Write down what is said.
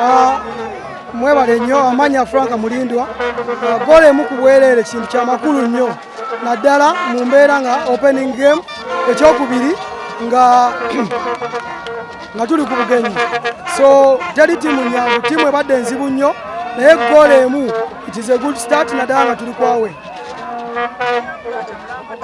ah, mwebale nnyo amanya frank mulindwa ah, gola emu ku bwereere kintu kyamakulu nnyo naddala mu mbeera nga opening game ekyokubiri nga nga tuli ku bugenyi so teri tiimu nyangu tiimu ebadde enzibu nnyo naye gola emu it is a good start naddala nga tuli kwawe